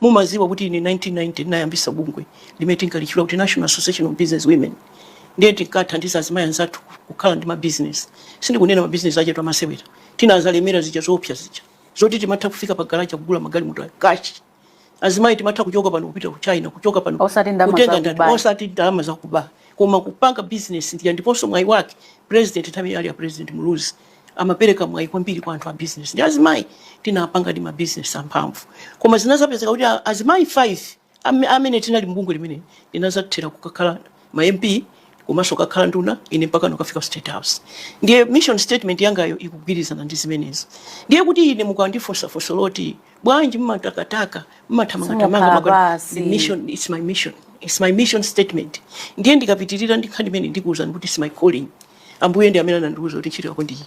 Mumadziwa kuti ine 1990 ndinayambitsa bungwe limene tinkalitchula kuti National Association of Business Women ndiye tinkathandiza azimayi anzathu kukhala ndi mabizinesi. Sindikunena mabizinesi achetu amasewera, tinazalemera zija zoopsa zija zoti timatha kufika pa garaja kugula magalimoto a kashi. Azimayi timatha kuchoka pano kupita ku China, kuchoka pano Osati ndalama kutenga za ndalama, kuba. osati ndalama zakuba, koma kupanga bizinesi ndiye ndiponso mwayi wake president nthawi inali ya president Muluzi amapereka mwayi kwambiri kwa anthu a business ndi azimayi tinapangadi ma business amphamvu koma zinazapezeka kuti a- azimayi 5 am- amene tinali mbungwe limeneli tinazathera kukakhala ma mp komanso kakhala nduna ine mpaka nkukafika state house ndiye mission statement yangayo ikugwirizana ndi zimenezo ndiye kuti ine mukandifunsa funso loti bwanji mmatakataka mmathamangatamanga Simukhala maka- pansi. ndi mission it's my mission it's my mission statement ndiye ndikapitirira ndi nkhani imene ndikuwuzani kuti it's my calling Ambuye ndi amene anandiuza kuti ntchito yako ndi iyi.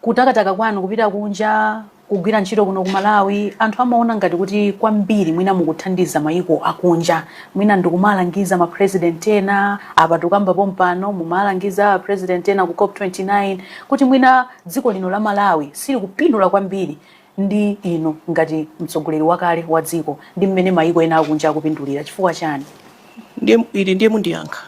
Kutakataka kwanu kupita kunja kugwira ntchito kuno ku Malawi, anthu amaona ngati kuti kwambiri mwina mukuthandiza mayiko akunja. Mwina ndikumalangiza ma president ena, apa tikukamba pompano mumalangiza a president ena ku cop 29 kuti mwina dziko lino la Malawi silikupindula kwambiri ndi inu ngati mtsogoleri wakale wa dziko ndi mmene mayiko ena akunja akupindulira. Chifukwa chani? Ndiye mundiyankha.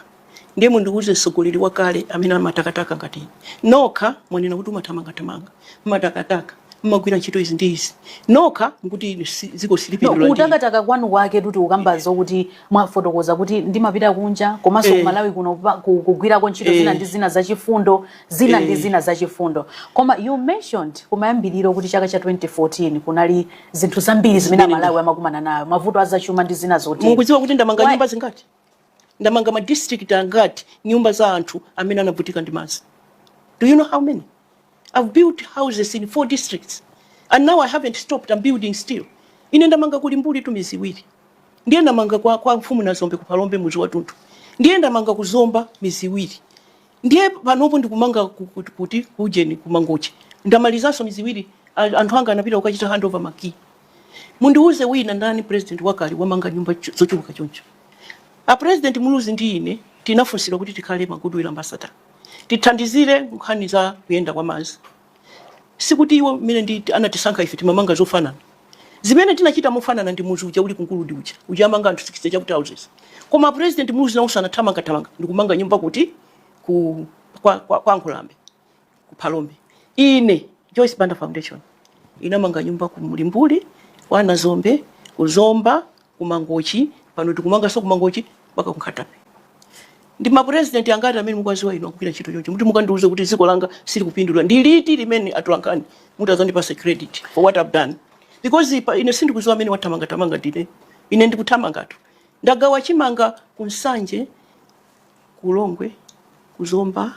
ndiye mundiuze mtsogoleri wakale amene amatakataka ngati ine nokha mwanena kuti mumathamangathamanga mmatakataka mmagwira ntchito izi ndi izi nokha mukuti ine si- dziko No, silipindula ndi ine. kutakataka kwanu kwaketu tikukambazo kuti mwafotokoza kuti ndimapita kunja komanso Eh. kumalawi kuno pa- ku- kugwirako ntchito zina Eh. ndi zina zachifundo zina ndi Eh. zina zachifundo koma you mentioned kumayambiriro kuti chaka cha 2014 kunali zinthu zambiri zimene Zimene- amalawi amakumana nayo mavuto azachuma ndi zina zoti mukudziwa kuti ndamanga Why- nyumba zingati ndamanga ma district angati nyumba za anthu amene anavutika ndi madzi do you know how many i've built houses in four districts and now i haven't stopped i'm building still ine ndamanga ku limbulitu mizi iwiri ndiye ndamanga kwa, kwa mfumu nazombe kuphalombe muzi wathunthu ndiye ndamanga ku zomba mizi iwiri ndiye panopo ndikumanga ku- ku- kuti kujeni kumangochi ndamalizanso mizi iwiri a- anthu anga anapita kukachita handover makii Mundiuze wina ndani president wakale wamanga nyumba zochuluka choncho. A president Muluzi ndi ine tinafunsidwa kuti tikhale ma goodwill ambassador. Tithandizire nkhani za kuyenda kwa madzi. Sikuti iwo mmene ndi anatisankha ife timamanga zofanana. Zimene tinachita mofanana ndi muzi uja uli ku Nguludi uja. Uja amanga anthu 60 chakuti houses. Koma president Muluzi nawonso anathamangathamanga ndikumanga nyumba kuti ku kwa, kwa, kwa Nkhulambe. ku Phalombe. Ine Joyce Banda Foundation inamanga nyumba ku Mulimbuli, kwa Nazombe, ku Zomba, ku Mangochi, pano tikumanganso ku Mangochi mpaka ku Nkhata Bay. Ndi ma president angati amene mukuwadziwa inu agwira ntchito choncho? Muti mukandiuze kuti dziko langa silikupindula. Ndi liti limene atolankhani mudzandipatse credit for what I've done? Because ine sindikudziwa amene wathamangathamanga ndine. Ine ndikuthamangatu. Ndagawa chimanga ku Nsanje, ku Lilongwe, ku Zomba,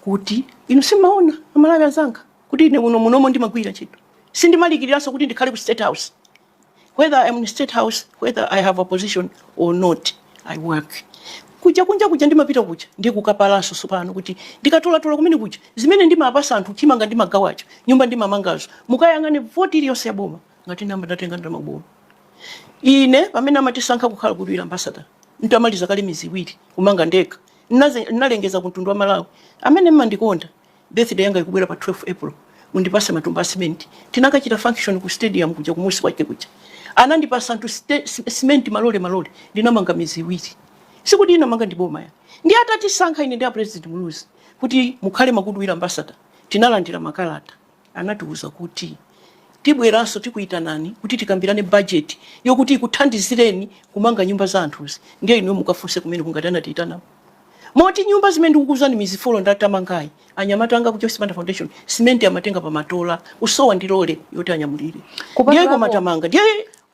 kuti inu simaona amalawi azanga kuti ine kuno munomo ndimagwira ntchito sindimalikiriranso kuti ndikhale ku state house whether I am in state house whether I have a position or not I work kuja kunja kuja ndimapita kuja ndi kukapala nsomba kuti ndikatolatola kumene kuja zimene ndimapasa anthu chimanga ndimagawacho nyumba ndimamangazo mukayang'ane voti iliyonse ya boma ngati ndinayamba ndatenga ndalama ya boma Ine pamene amatisankha kukhala Goodwill Ambassador nditamaliza kale miezi iwiri kumanga ndekha, nnaze nnalengeza ku mtundu wa Amalawi amene mmandikonda, birthday yanga ikubwera pa 12 April mundipase matumba a cement. Tinakachita function ku stadium kuja kumusi kwake kuja anandipasa anthu ste, cement malole malole ndinamanga miezi iwiri. Sikuti inamanga ndi boma ayi. Ndiye atatisankha ine ndi a President Muluzi kuti mukhale ma Goodwill Ambassador tinalandira makalata. Anatiuza kuti, Tibweranso tikuitanani kuti tikambirane bajeti yokuti ikuthandizireni kumanga nyumba za anthuzi ndiye inuyo mukafunse kumeneko ngati anatiitanako. Moti nyumba zimene ndikukuuzani midzi four ndatamangayi, anyamata anga ku Joyce Banda Foundation simenti amatenga pamatola kusowa ndi lole yoti anyamulire. Ndiye Kupatulapo- koma tamanga. Ndiye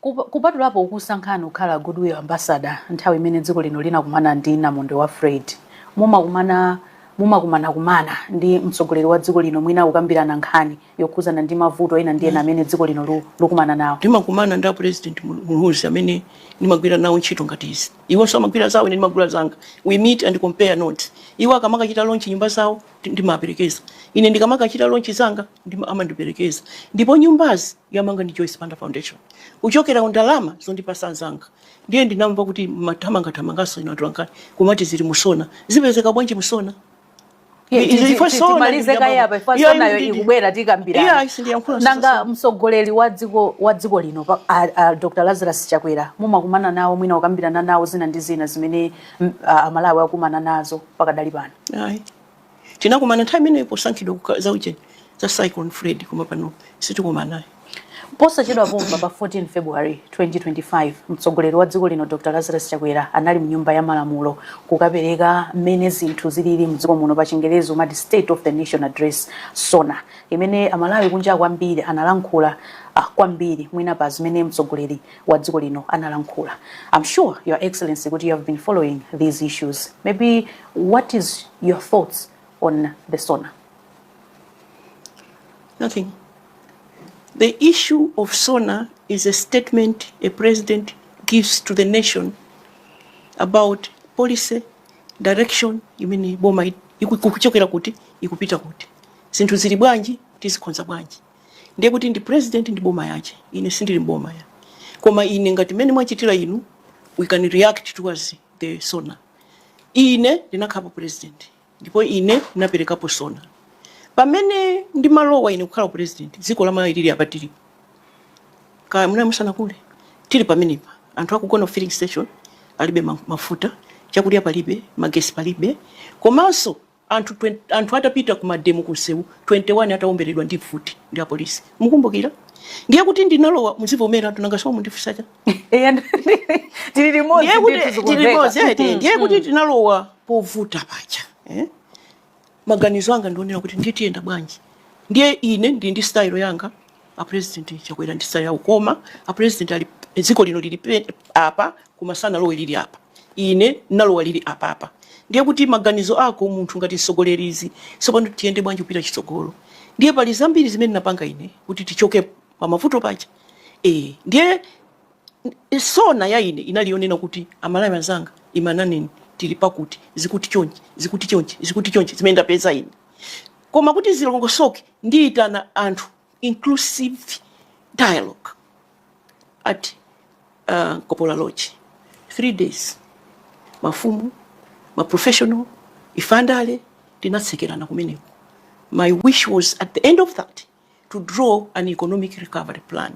Kup, kupatulapo kukusankhani kukhala Goodwill Ambassador nthawi imene dziko lino linakumana ndi namondwe wa Freddy, mumakumana mumakumanakumana ndi mtsogoleri wa dziko lino mwina kukambirana nkhani yokhuzana ndi mavuto ena ndi ena amene dziko lino lu, lukumana nawo? Ndimakumana ndi a President Mul- Muluzi amene ndimagwira nawo ntchito ngati izi. Iwonso amagwira zawo ine ndimagwira zanga. We meet and compare notes. Iwo akamakachita launch nyumba zawo ndimaperekeza ine ndikamakachita lonchi zanga ndima- amandiperekeza ndipo nyumbazi yamanga ndi Joyce Banda Foundation kuchokera ku ndalama zondipasa anzanga ndiye ndinamva kuti mwathamangathamanganso inu atolankhani kumati zili mu SONA zipezeka bwanji mu SONA Iye, Izi- ti- ife ti- sona timalize kaye apa, if Iye, sonayo ndi- ndi- ikubwera Iye, tikambirana sindiyankhula nanga. mtsogoleri wa dziko wa dziko lino pa- a- a dr lazarus chakwera mumakumana nawo mwina kukambirana nawo zina ndi zina zimene mm, a- amalawi akumana nazo pakadali pano ayi tinakumana nthawi imeneyo posankhidwa kuka- za ujeni za cyclone freddy koma pano sitikumana ayi posachedwa pompa pa 14 february 2025 mtsogoleri wa dziko lino dr lazarus chakwera anali mnyumba ya malamulo kukapereka mmene zinthu zilili mdziko muno pa chingerezi mumati state of the nation address sona imene amalawi kunja kwambiri analankhula ah, kwambiri mwina pa zimene mtsogoleri wa dziko lino analankhula im sure your excellency kuti you have been following these issues maybe what is your thoughts on the sona nothing the issue of sona is a statement a president gives to the nation about policy direction imene boma ikuchokera kuti ikupita kuti zinthu zili bwanji tizikonza bwanji ndiye kuti ndi president ndi boma yache ine sindili mboma ya koma ine ngati mmene mwachitira inu we can react towards the sona ine ndinakhalapo president ndipo ine ndinaperekapo sona pamene ndimalowa ine kukhala president dziko la malawi lili apa tilipo kaya muna musanakule tili pamenepa anthu akugona ku filling station alibe ma- mafuta chakudya palibe magesi palibe komanso Anthu anthu atapita ku mademo ku nsewu 21 atawomberedwa ndi mfuti ndi a police mukumbukira? Ndiye kuti ndinalowa muzivomera tu nanga simukundifunsa cha? Eya tili limodzi Ndiye kuti ndithu tili zikumveka. limodzi eti Mhm, ndiye kuti mhm. ndinalowa povuta paja eh? Maganizo anga ndionera kuti ndiye tiyenda bwanji? Ndiye ine ndi ndi style yanga A president chakwera ndi style yawo koma a president ali dziko lino lili pe apa koma sanalowe lili apa ine ndinalowa lili apapa ndiye kuti maganizo ako munthu ngati mtsogoleri izi tsopano tiyende bwanji kupita chitsogolo ndiye pali zambiri zimene ndapanga ine kuti tichoke pa mavuto paja eh ndiye sona ya ine inali yonena kuti amalawi anzanga imani nneni tili pakuti zikuti chonchi zikuti chonchi zikuti chonchi zimene ndapeza ine Koma kuti zilongosoke ndiyitana anthu inclusive dialogue at uh, Nkopola Lodge three days mafumu ma professional ifandale tinatsekerana kumeneko my wish was at the end of that to draw an economic recovery plan.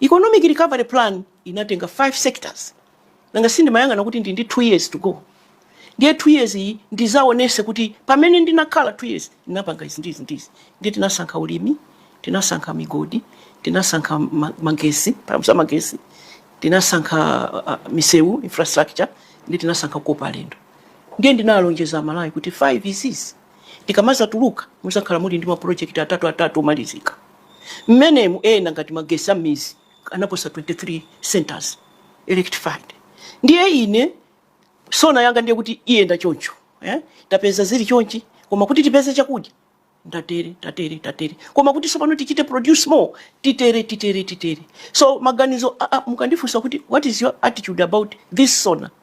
Economic recovery plan inatenga five sectors. Nanga si ndimayang'ana kuti ndili ndi two years to go. Ndiye two years iyi ndizaonese kuti pamene ndinakhala two years ndinapanga izi ndizi ndizi. Ndiye tinasankha ulimi, tinasankha migodi, tinasankha ma- magesi, paramusa magesi, tinasankha uh, misewu infrastructure, ndiye tinasankha kukopa alendo. Ndiye ndinalonjeza Malawi kuti five izizi. Tikamadzatuluka, mudzakhala muli ndi mapulojekiti atatuatatu omalizika. Mmenemu, ena ngati magetsi a m'midzi anaposa 23 centres electrified. Ndiye ine sona yanga ndiye kuti iyenda choncho. eh? Tapeza zili chonchi, koma kuti tipeze chakudya ndatere tatere tatere koma kuti tsopano tichite produce more titere titere titere so maganizo a, a, mukandifunsa kuti what is your attitude about this sona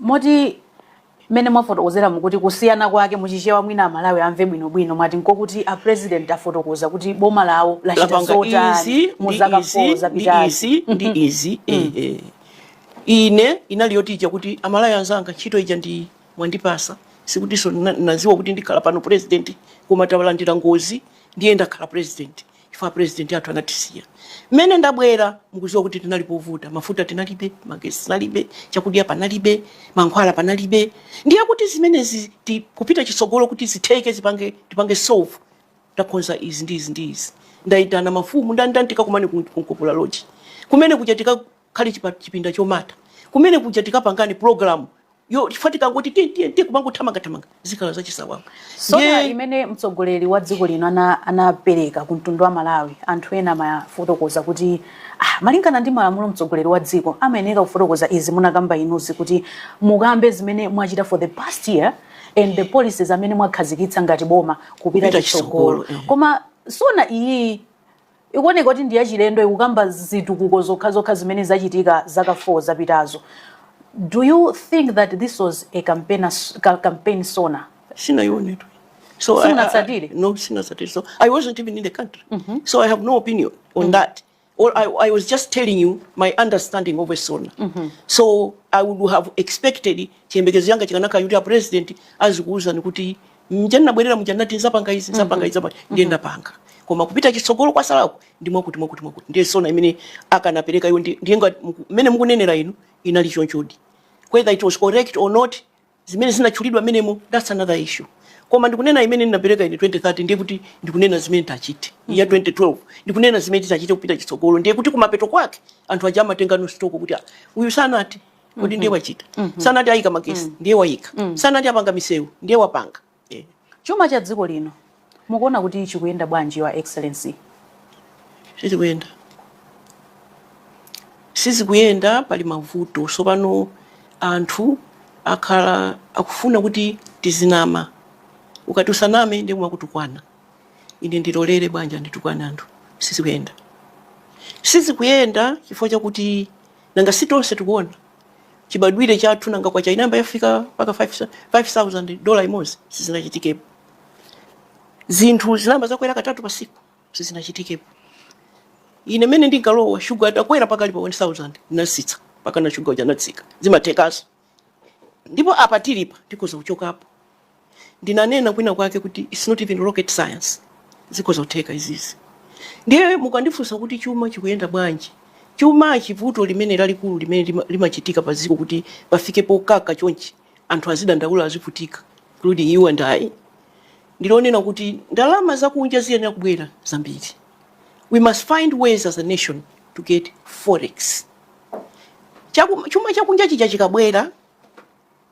moti mmene mwafotokozera mukuti kusiyana kwake muchichewa mwina amalawi amve bwinobwino mwati nkokuti a president afotokoza kuti boma lawo lachita zotani mu zaka 4 zapitazi ndi izi eh, ine inali yoti ija kuti amalawi anzanga ntchito ija munandipasa sikutinso naziwa kuti ndikhala pano president koma talandira ngozi ndiye ndakhala president chifukwa president athu anatisiya. Mmene ndabwera mukuziwa kuti tinali povuta, mafuta tinalibe, magesi tinalibe, chakudya panalibe, mankhwala panalibe. Ndiye kuti zimenezi kupita chitsogolo kuti zitheke tipange solve ndakonza izi ndi izi ndi izi. Ndaitana mafumu ndani ndani tikakumane ku Nkopola Lodge. Kumene kuja tika khale chipinda chomata kumene kuja tikapangane pulogalamu yo chifukwa tikangoti tiye tiye tiye kumangothamanga thamanga zikhala zachisawawa sona imene mtsogoleri wa dziko lino anapereka ku mtundu wa amalawi anthu ena amafotokoza kuti ah, malingana ndi malamulo mtsogoleri wa dziko amayenera kufotokoza izi munakamba inu kuti mukambe zimene mwachita for the past year and the policies amene mwakhazikitsa ngati boma kupita chitsogolo, eh. koma sona iyi ikuoneka kuti ndi yachilendo ikukamba zitukuko zokhazokha zimene zachitika zaka 4 zapitazo do you think that this was a campaign sona sindinayionetu so I- I- Simunatsatire? no sindinatsatire so i wasn't even in the country so i have no opinion on that or I, I was just telling you my understanding of a sona so i would have expected chiyembekezo changa chikanakhala kuti a president azikuwuzani kuti mmene ndinabwerera muja ndinati nzapanga izi nzapanga izi nzapanga ndiye ndapanga koma kupita chitsogolo kwatsalaku ndi mwakuti mwakuti mwakuti ndiye sona imene akanapereka iwo ndi- ndiye ngati muku- mmene mukunenera inu inali chonchodi whether it was correct or not zimene zinatchulidwa mmenemo that's another issue koma ndikunena imene ndinapereka ine 2013 ndiye kuti ndikunena zimene tachite ya 2012 ndikunena zimene tichite kupita chitsogolo ndiye kuti kumapeto kwake anthu aja amatengano stock kuti "Ah, uyu sanati kodi ndiye wachita sanati ayika magesi ndiye wayika sanati apanga misewu ndiye wapanga chuma cha dziko lino mukuona kuti chikuyenda bwanji your excellency sizikuyenda sizikuyenda pali mavuto so pano anthu akhala akufuna kuti tizinama ukati usaname ndiye kumakutukwana ine ndilolere bwanji anditukwane anthu sizikuyenda sizikuyenda chifukwa chakuti Nanga si tonse tikuona chibadwire chathu nanga kwacha inayamba yafika mpaka 5000 dola imodzi sizinachitikepo zinthu zinayamba zakwera katatu pa siku sizinachitikepo ine mmene ndinkalowa shuga atakwera mpaka ali pa 1000 ndinatsitsa mpakana shuga uja anatsika zimathekaso Ndipo apa tilipa tikhoza kuchokapo. Ndinanena kwina kwake kuti it's not even rocket science. Zikhoza kutheka izizi. Ndiye mukandifunsa kuti chuma chikuyenda bwanji? Chumachi vuto limene lalikulu limene lima- limachitika pa dziko kuti pafike pokaka chonchi anthu azidandaula azivutika including you and I ndilonena kuti ndalama zakunja ziyenera kubwera zambiri. We must find ways as a nation to get forex. Chaku- chuma chakunja chija chikabwera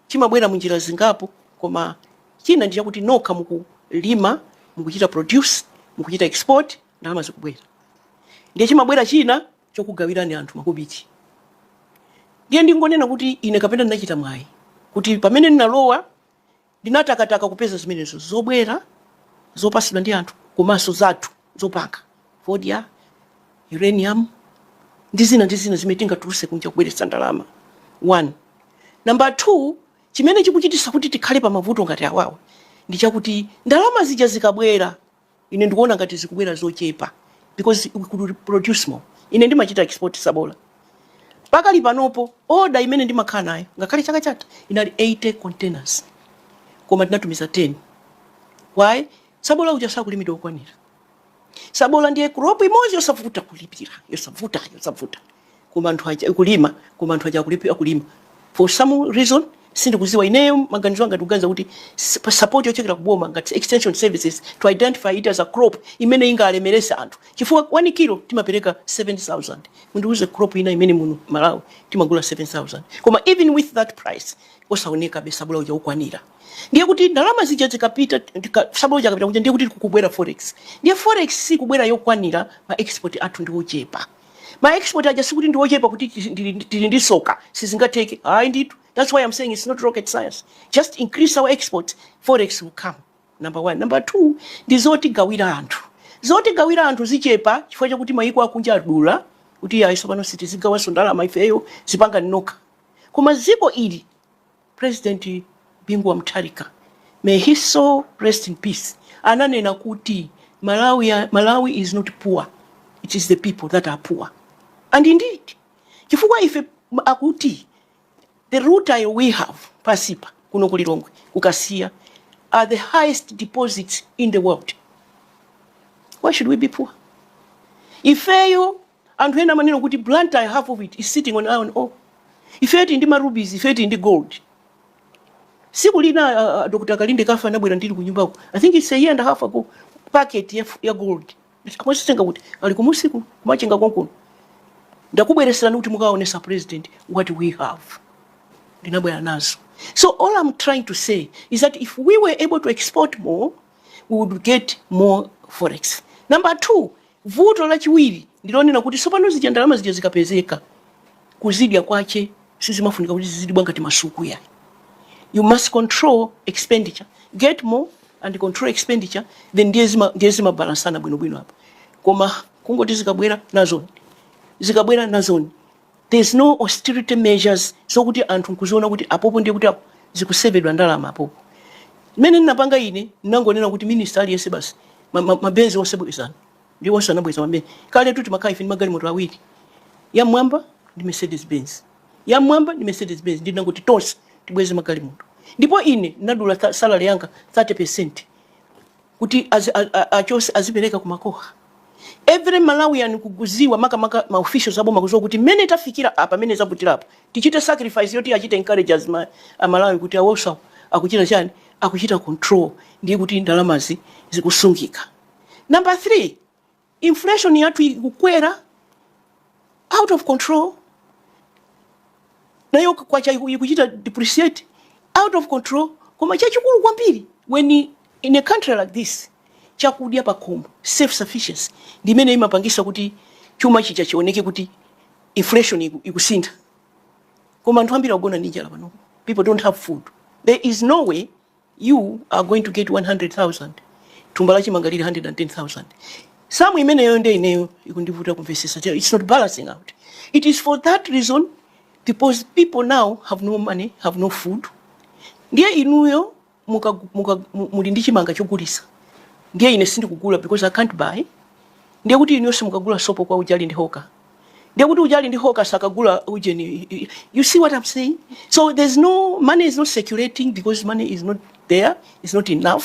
chimabwera mu njira zingapo koma china ndi chakuti nokha mukulima mukuchita produce mukuchita export ndalama zikubwera ndiye chimabwera china chokugawirani anthu makobiti ndiye ndingonena kuti ine kapena ndinachita mwayi kuti pamene ndinalowa Ndinatakataka kupeza zimenezo, zobwera zopatsidwa ndi anthu komanso zathu zopanga, fodya, uranium, ndi zina ndi zina zimene tingatulutse kunja kubweretsa ndalama, 1. Nambala 2, chimene chikuchititsa kuti tikhale pamavuto ngati awawa ndi chakuti ndalama zija zikabwera, Ine ndikuona ngati zikubwera zochepa because we could produce more. Ine ndimachita export tsabola. Pakali panopo order imene ndimakhala nayo ngakhale chaka chatha inali 80 containers koma tinatumiza 10. Why? Tsabola uja sakulimidwa wokwanira. Tsabola ndiye crop imodzi yosavuta kulipira, yosavuta, yosavuta. koma anthu aja kulima koma anthu aja akulephera kulima for some reason sindikuziwa ineyo maganizo anga ndikuganiza kuti s- pa support yochokera kuboma ngati extension services to identify it as a crop imene ingalemerese anthu chifukwa 1 kilo timapereka 7000 mundiuze crop ina imene muno malawi timagula 7000 koma even with that price usaonekabe sabola uja wokwanira ndiye kuti ndalama zija zikapita tika- sabola uja akapita kunja ndiye kuti kukubwera forex ndiye forex sikubwera yokwanira ma export athu ndi ochepa ma export aja sikuti ndi ochepa kuti tili- tili tili ndi soka sizingatheke ayi ndithu that's why i'm saying it's not rocket science just increase our exports forex will come number one number two ndi zotigawira anthu zotigawira anthu zachepa chifukwa chakuti mayiko akunja adula kuti ayi sopano sitizigawanso ndalama ifeyo zipangani nokha koma dziko ili President Bingu wa Mutharika, may his soul rest in peace, ananena kuti Malawi, Malawi is not poor, it is the people that are poor. And indeed, chifukwa ife akuti the route ayo we have pasipa kuno kulilongwe kukasiya are the highest deposits in the world. Why should we be poor? Ifeyo Anthu ena amanena kuti Blantyre half of it is sitting on iron ore. Ifeyo tili ndi ma rubies, ifeyo tili ndi gold. Siku lina a, a, Dr. Kalindekafe anabwera ndili kunyumbako. I think it's a year and a half ago. Packet ya, f- ya gold. Mwazitenga kuti ali ku Msiku ku Machinga konkuno. Ndakubweretserani kuti mukaonesa president what we have. ndinabwera nazo so all i'm trying to say is that if we were able to export more we would get more forex number two Vuto lachiwiri ndi lonena kuti sopano zija ndalama zija zikapezeka kuzidya kwache sizimafunika kuti zizidibwa ngati masuku yayi you must control expenditure get more and control expenditure then ndiye zimabalansana bwinobwino apo koma kungoti zikabwera nazoni zikabwera nazoni there's no austerity measures zokuti anthu nkuziona kuti apopo ndiye kuti apo zikusevedwa ndalama apopo mmene ndinapanga ine ndinangonena kuti minista aliyense basi mabenzi onse bwezani ndi onse anabweza mabenzi kale tuti timakhala ife ndi magalimoto awiri yamwamba ndi mercedes benz yamwamba ndi mercedes benz ndinangoti tonse tibweze magalimoto ndipo ine ndinadula salary yanga 30 percent kuti achose azipereka kumakoha every malawian kukuziwa makamaka ma officials aboma kuziwa kuti mmene tafikira apa mmene zavutira apa tichite sacrifice yoti achite encourage aMalawi kuti awowa akuchita chani akuchita control ndiye kuti ndalamazi zikusungika number 3 Inflation yathu ikukwera out of control, nayo kwacha ikuchita depreciate out of control. Koma chachikulu kwambiri when in a country like this, chakudya cha pakhomo, self sufficiency ndi imene imapangisa kuti chuma chija chioneke kuti inflation ikusintha. Koma anthu ambiri akugona ndi njala pano, people don't have food, there is no way you are going to get 100,000 thumba la chimanga lili 110,000 samu imeneyo nde ineyo ikundivuta kumvesesa it's not balancing out it is for that reason because people now have no money have no food ndiye inuyo muli ndi chimanga chogulisa ndiye ine sindikugula because i can't buy ndiye kuti inuyo simukagula sopo kwa uja ali ndi hoka ndiye kuti uja ali ndi hoka sakagula ujeni you see what i'm saying so there's no money is not circulating because money is not there is not enough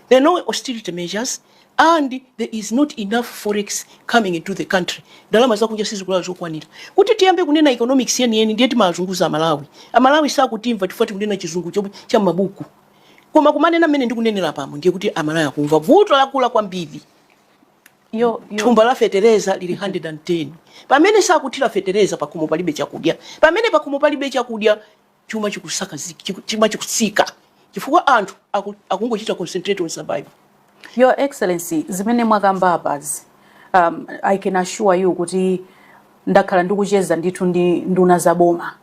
there are no austerity measures and there is not enough forex coming into the country ndalama zakunja sizikubwera zokwanira kuti tiyambe kunena economics yeniyeni ndiye timazunguza amalawi amalawi sakutimva chifukwa tikunena chizungu cha mabuku koma kumanena mmene ndikunenera pano ndiye kuti amalawi akumva vuto lakula kwambiri thumba la fetereza lili 110 pamene sakuthira fetereza pakhomo palibe chakudya pamene pakhomo palibe chakudya chuma chikusika chuma chikusika chifukwa anthu akungochita concentrate on survival Your Excellency, zimene mwakamba apazi, um, I can assure you kuti ndakhala ndikucheza ndithu ndi nduna za boma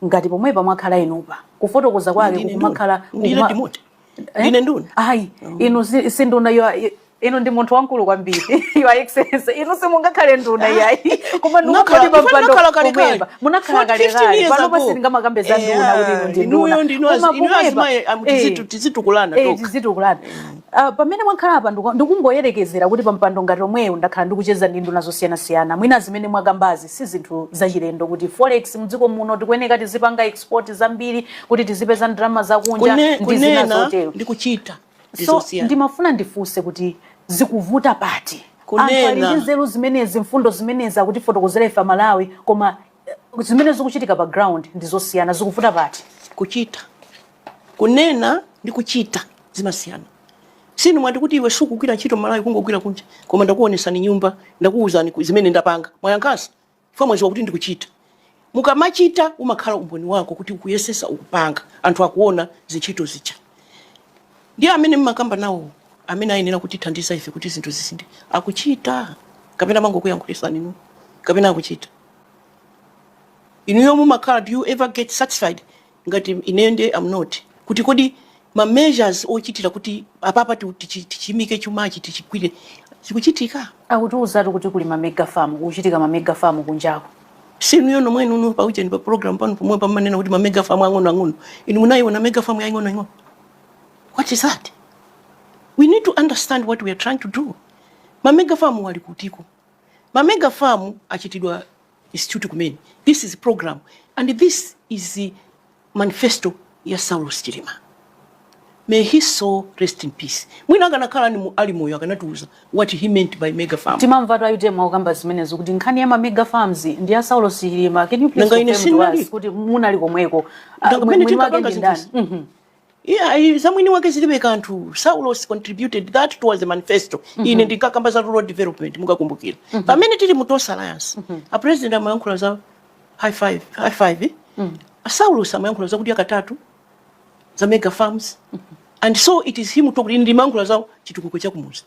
ngati pomwe mwakhala inupa kufotokoza kwake kukumakhala eh? ine nduna ayi oh. inu si nduna inu ndi munthu wamkulu kwambiri your excellency inu simungakhale nduna yayi koma ndingakhale pampando kumwamba munakhala kalekale pano pa sindingamakambe za nduna kuti inu ndi nduna koma kumwamba tizitukulana eh, tizitukulana eh, mm. ah, pamene mwakhala apa ndikungoyerekezera kuti pampando ngati omweyo ndakhala ndikucheza ndi nduna zosiyanasiyana mwina zimene mwakambazi si zinthu zachilendo kuti forex mdziko muno tikuyeneka tizipanga export zambiri kuti tizipeza ndalama zakunja Kune, ndi zina kunena zotero ndi kuchita so ndizosiyana ndimafuna ndifunse kuti zikuvuta pati Kunena. anthu ali ndi nzeru zimenezi mfundo zimenezi akutifotokozera ife amalawi koma eh, zimene zikuchitika pa ground ndi zosiyana zikuvuta pati kuchita kunena ndi kuchita zimasiyana si inu mwati kuti iwe sukugwira ntchito malawi kungogwira kunja koma ndakuonesani nyumba ndakuwuzani ku- zimene ndapanga mwanyankasa chifukwa mwaziwa kuti ndikuchita. mukamachita umakhala umboni wako kuti ukuyesesa ukupanga anthu akuona zintchito zitha. ndiye amene mmakamba nawo amene ayenera kutithandiza ife kuti zinthu zisinthe akuchita? kapena amangokuyankhulisani inuyo? kapena akuchita? inuyo mumakhala do you ever get satisfied ngati ineyo ndiye am not kuti kodi ma measures ochitira kuti apapa ti- tichi- tichimike chumachi tichigwire zikuchitika akutiuzatu kuti kuli ma mega farm kuchitika ma mega farm kunjako si inuyo nomwenu paujeni pa program pano pomwe pamanena kuti ma mega farm ang'ono ang'ono inu munayiona mega farm yaying'ono ing'ono what is that we need to understand what we are trying to do ma mega farm ali kutiko ma mega farm achitidwa Institute kumene. This is a program and this is the manifesto ya Saulos Chilima. May his soul rest in peace. Mwina akanakhala ali moyo akanatiuza what he meant by mega farm. Timamvatu ayi mwakamba zimenezi kuti nkhani ya ma mega farms ndi ya Saulos Chilima. Can you please confirm to us kuti munali komweko? Mwini wake ndi ndani? Iyayi, za mwini wake zilibe kanthu. Saulos contributed that towards the manifesto. Mm -hmm. Ine ndinkakamba za rural development mukakumbukira. Mm -hmm. Pamene tili mu Tonse Alliance, mm -hmm. a president amayankhula za high five, high five. Eh? Mm -hmm. A Saulos amayankhula za kudya katatu za mega farms. Mm -hmm. And so it is him talking ndimayankhula za chitukuko cha kumuzi.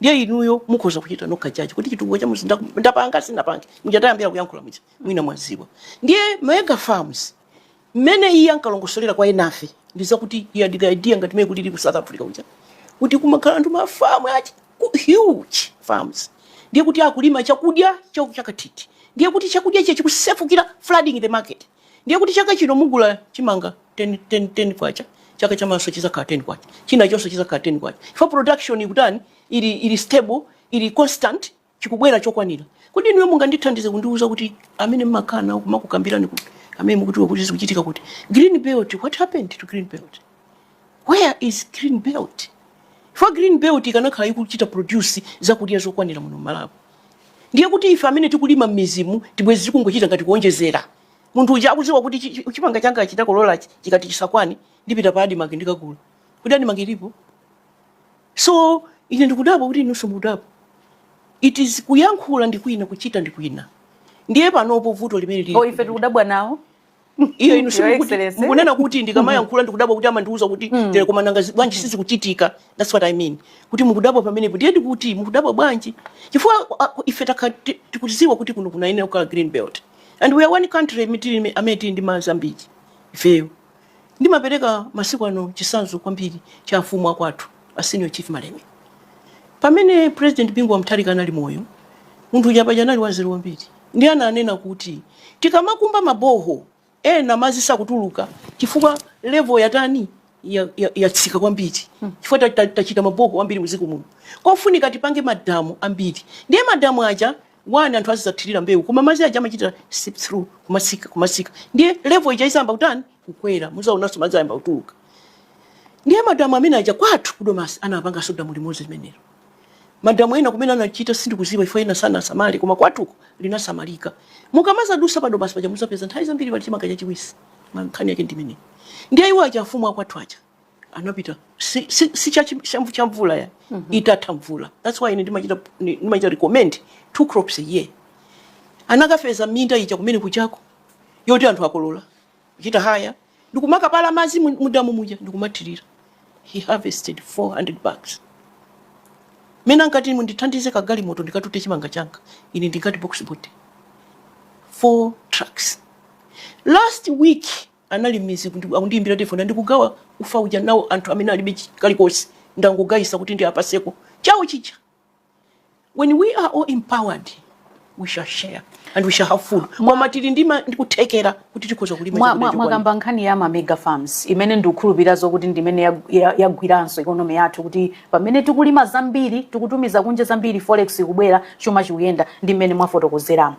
Ndiye inuyo mukhoza kuchita nokha judge kuti chitukuko cha kumuzi ndapanga sinapange. Muja tayambira kuyankhula muja. Mwina mwaziwa. Ndiye mega farms Mmene iye ankalongosolera kwa enafe ndi zakuti he had the idea ngati mmene kulili ku South Africa kuja kuti kumakhala anthu ma farm achi ku- huge farms ndiye kuti akulima chakudya chakatithi ndiye kuti chakudya ichi chikusefukira flooding the market ndiye kuti chaka chino mugula chimanga 10 10 10 kwacha chaka chamawanso chizakhala 10 kwacha chinachonso chizakhala 10 kwacha for production ikutani ili ili stable ili constant chikubwera chokwanira. Kodi inuyo mungandithandize kundiuza kuti amene mmakhala nawo kumakukambirani kuti amene mukudziwa kuti zikuchitika kuti green belt, what happened to green belt? Where is green belt? Chifukwa green belt ikanakhala ikuchita produce zakudya zokwanira muno Malawi, ndiye kuti ife amene tikulima mmidzimu tibwezi tikungochita ngati kuonjezera. Munthu uja akudziwa kuti chi- chi- chimanga changa chidakolola chikati chisakwane ndipita pa Admarc ndikagula. Kodi Admarc ilipo? So ine ndikudabwa kuti inunso mukudabwa. It is kuyankhula ndi kwina, kuchita ndi kwina. Ndiye panopo vuto limene lili. Oh, ife tikudabwa nawo. Iyo inu simukunena kuti ndikamayankhula ndikudabwa kuti amandiuza kuti mm. tere koma nanga bwanji sizikuchitika. That's what I mean. Kuti mukudabwa pamenepo ndiye ndikuti mukudabwa bwanji? Chifukwa ife tikudziwa kuti kuno kunayenera kukhala green belt. And we are one country amene tili ndi madzi ambiri ifeyo. Ndimapereka masiku ano chitsanzo kwambiri cha amfumu akwathu a Senior Chief Malemia. Pamene President Bingu wa Mutharika anali moyo, munthu uja paja anali wanzeru kwambiri ndiye ananena kuti tikamakumba ma borehole ena madzi sakutuluka chifukwa level yatani ya- ya- yatsika kwambiri chifukwa ta- ta- tachita ma borehole ambiri mudziko muno kofunika tipange madamu ambiri ndiye madamu aja 1 anthu azidzathirira mbewu koma madzi aja amachita seep through kumatsika kumatsika ndiye level ija izayamba kutani kukwera muzaonanso madzi ayamba kutuluka ndiye madamu amene aja kwathu ku Domasi anapanganso damu limodzi limenelo madamu ena kumene anachita sindikuziwa iwo ena sanasamale koma kwathuko linasamalika mukamazadusa pa Domasi paja muzapeza nthawi zambiri pali chimanga chachiwisi mankhani yake ndimeneyi ndiye iwo aja afumu akwathu aja anapita si, si, si cha, cha, cha mvula ya mm -hmm. itatha mvula that's why ine ndimachita ndimachita recommend two crops a year anakapeza minda ija kumene kujako yoti anthu akolola kuchita hire ndikumakapala madzi mudamu muja ndikumathirira he harvested 400 bags mmene ankati mundithandize kagalimoto ndikatute chimanga changa ine ndingati box body four trucks last week Anali busy akundiyimbira telefoni ndikugawa ufa uja nawo anthu amene alibe kalikonse ndangogayitsa kuti ndiapaseko chawo chija when we are all empowered we shall share and we shall have food koma tili ndi kuthekera kuti tikhoza kulima mwakamba nkhani ya ma mega farms imene ndikukhulupirira zokuti ndimene yagwiranso economy yathu kuti pamene tikulima zambiri tikutumiza kunja zambiri forex ikubwera chuma chikuyenda ndi mmene mwafotokozeramo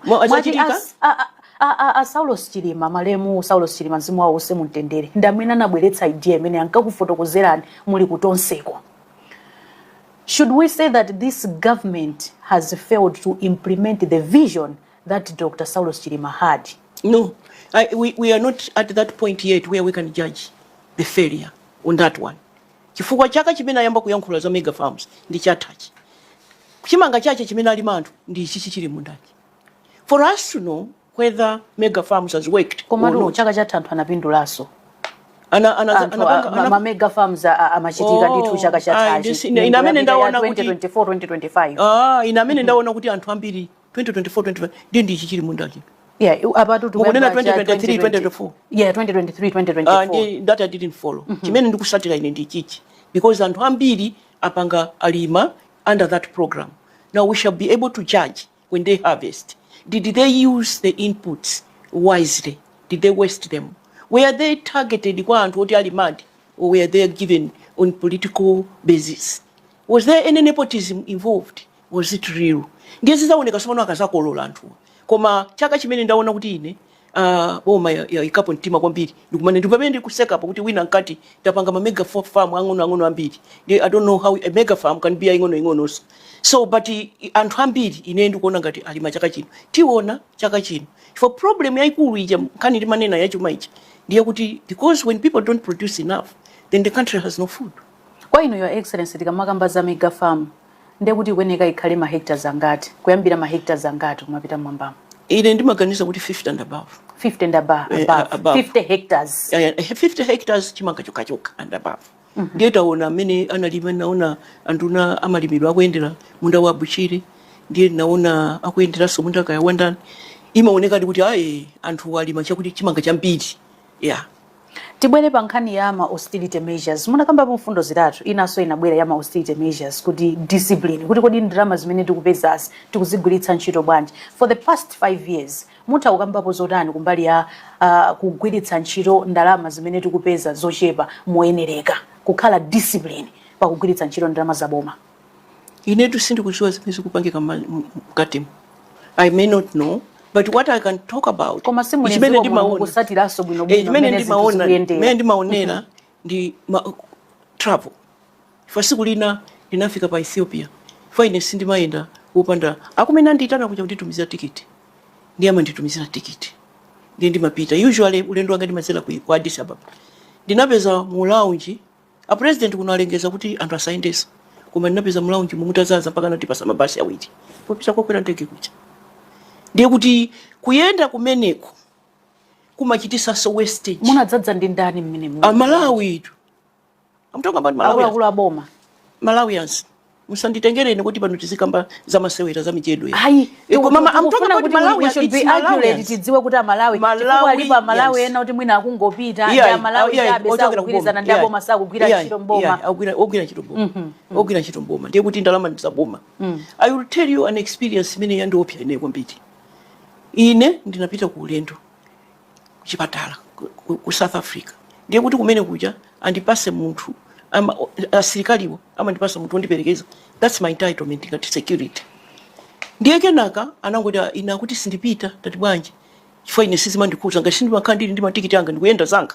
A a a Saulos Chilima malemu Saulos Chilima mzimu wawo uuse mumtendere ndi amene anabweretsa idea imene ankakufotokozerani muli ku tonseko. Should we say that this government has failed to implement the vision that Dr. Saulos Chilima had? No, I, we, we are not at that point yet where we can judge the failure on that one. Chifukwa chaka chimene ayamba kuyankhula za mega farms ndi chathachi. Chimanga chache chimene alima anthu ndi ichichi chili m'mundachi. for us to know whether mega farms has worked komatu chaka chatha anthu anapindulaso mamega farms amachitika ndithu oh, chaka chathachi ine amene ndaona kuti 2024 ah, ine amene mm-hmm. ndaona kuti anthu ambiri 2024 ndi ichi chili m'mundachi Yeah, about to remember 2023, 2024. Yeah, 2023, 2024. Uh, ah, that I didn't follow. Mm -hmm. Chimene ndikusatira ine ndi ichichi. Because anthu ambiri apanga alima under that program. Now we shall be able to judge when they harvest did they use the inputs wisely did they waste them were they targeted kwa anthu oti alimadi or were they given on political basis was there any nepotism involved was it real ndiye zizawoneka sopano akazakolola anthuwa koma chaka chimene ndaona kuti ine ah, boma ya- yaikapo mtima kwambiri ndi- ine ndi pamene ndikusekapo kuti wina ankati tapanga ma mega fa- farm ang'onoang'ono ambiri Ndi- i don't know how a mega farm can be ing'onoing'ononso so but i- i- anthu ambiri ine ndikuona ngati alima chaka chino tiona chaka chino problem yaikulu ija nkhani ndimanena yachuma ija ndiyakuti because when people don't produce enough then the country has no food Kwa inu your excellency tikamakamba za mega farm ndiye kuti ikuyeneka ikhale ma hectares angati kuyambira ma hectares angati kumapita mmwambamo ine ndimaganiza kuti 50 and above 50 and above, eh, above. above. 50 hectares yeah, yeah, 50 hectares chimanga chokhachokha and above mm -hmm. ndiye taona amene analima ndinaona anduna amalimidwe akuyendera munda wa Bushiri ndiye ndinaona akuyenderanso munda kaya wandani imaonekadi kuti ayi anthu alima chakuti chimanga chambiri yeah Tibwere pa nkhani ya ma austerity measures. Munakambapo mfundo zitatu, inanso inabwera ya ma austerity measures kuti discipline, kuti kodi ndalama zimene tikupezazi tikuzigwiritsa ntchito bwanji. For the past five years, mutha kukambapo zotani kumbali ya uh, kugwiritsa ntchito ndalama zimene tikupeza zochepa moyenereka, kukhala discipline pakugwiritsa ntchito ndalama za boma. inetu sindikuziwa zimene zikupangika mma- m- mkatimu i may not know but what i can talk about koma ndi chimene simudziwa muno ndimaona mukusatiranso Eh, bwinobwino chimene mmene zinthu ndimaona mmene zikuyendera ndimaonera ndi ma travel ifeyo siku lina ndinafika pa Ethiopia ife ine sindimayenda kupanda kumene andiyitana kuja kunditumizira tikiti ndiye amanditumizira tikiti ndiye ndimapita usually ulendo wanga ndimazera ku ku addis ababa ndinapeza mu lounge A president kunalengeza kuti anthu asayendetsa koma ndinapeza mu lounge mutazaza mpaka anatipasa mabasi awiri popita kokwera ndege kuja ndiye kuti kuyenda kumeneko kumachitisanso wastage munadzadza ndi ndani mmene mu- amalawitu I'm talking about malawians akuluakulu a boma malawians musanditengere ine kuti pano tizikamba za masewera za mijedo iyayi Eh, koma ma- I'm talking about Malawi, it's Malawians. tidziwe kuti amalawi Malawi, chifukwa alipo amalawi yes. ena kuti mwina akungopita ndi Iyayi, amalawi iyayi, chabe ochokera osakugwirizana kuboma. ndi aboma Iyayi, sakugwira iyayi, ntchito mboma iyayi, akugwira- ogwira ntchito mboma ogwira ntchito mboma ndiye kuti ndalama ndi za boma i will tell you an experience imene yandiopsa ine kwambiri ine ndinapita ku ulendo chipatala ku, ku, ku south africa ndiye kuti kumene kuja andipase munthu ama- o- asilikaliwo amandipasa munthu wondiperekeza thats my entitlement ngati security ndiye kenaka anangoti "Ah, iye akuti sindipita tati bwanji chifukwa ine sizimandikhuza ngati sindimakhala ndili ndi matikiti anga ndikuyenda zanga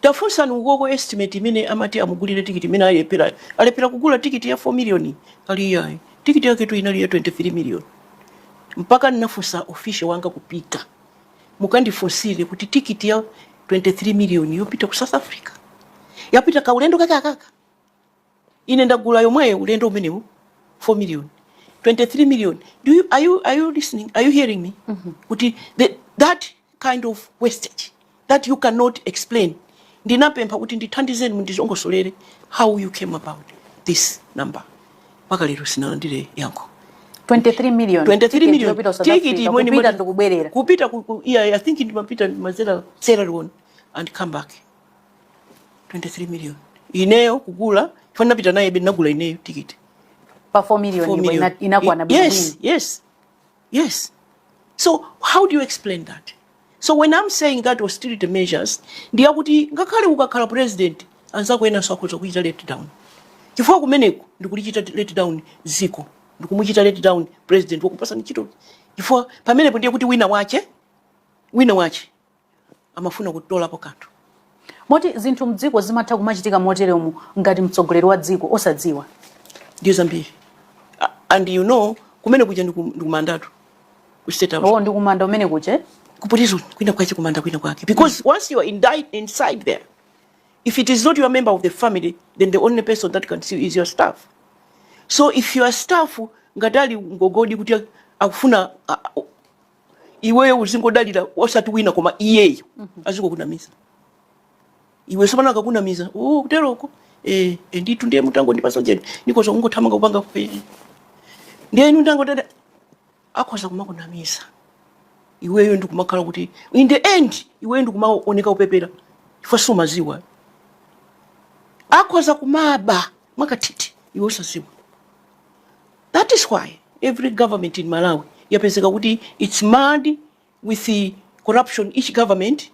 Tafunsani ukoko estimate imene amati amugulire tikiti imene alepherayo. Alephera kugula tikiti ya 4 million ali iyayi. Tikiti yaketu inali ya 23 million. Mpaka ndinafunsa official wanga kupita. Mukandifunsire kuti tikiti ya 23 million yopita ku South Africa. Yapita kaulendo kake aka. Ine ndagula yomweyo ulendo umenewu 4 million 23 million do you, are, you, are you listening are you hearing me mm -hmm. kuti the, that kind of wastage that you cannot explain ndinapempha kuti ndithandizeni mundizongosolere how you came about this number mpaka lero sinalandire yankho 23 million 23 million tikiti imeneyi kupita ndikubwerera kupita ku, ku, yeah, i think ndimapita madzera Sierra Leone and come back 23 million ineyo kugula chifukwa ndinapita nayebe ndinagula ineyo tikiti pa 4 million 4 ndipo million ina- inakwana I- yes bwinobwino yes yes so how do you explain that so when i'm saying that austerity measures ndiyakuti ngakhale ukakhala president anzako enanso akhoza kuchita let down chifukwa kumeneku ndikulichita let down ziko ndikumuchita let down president wakupasa ntchito chifukwa pamenepo ndiye kuti wina wache wina wache amafuna kutolapo kanthu. Moti zinthu mdziko zimatha kumachitika moteremu ngati mtsogoleri wa dziko osadziwa. Ndiyo zambiri. And you know kumene kuja ndikumandatu ku state house. Oh, ndikumanda kumene kuja. Ku prison kwina kwache kumanda kwina kwake. Because mm. once you are inside there if it is not your member of the family then the only person that can see you is your staff. So if your staff ingatalingokoti kuti akufuna iweyo uzingodalira osati wina koma iyeyo mhm. azikokunamiza iwe sopano akakunamiza oh, kuteroko eh, eh, nditu ndiye mutangondipatsa ujeni ndikoza kungothamanga kupanga kupeni ndiye inu ndango tata akhoza kumakunamiza iweyo ndikumakhala kuti in the end iweyo ndikumaoneka upepera chifukwa sumadziwa akhoza kumaba mwakachetechete iwe osadziwa That is why every government in Malawi yapezeka kuti it's marred with the corruption each government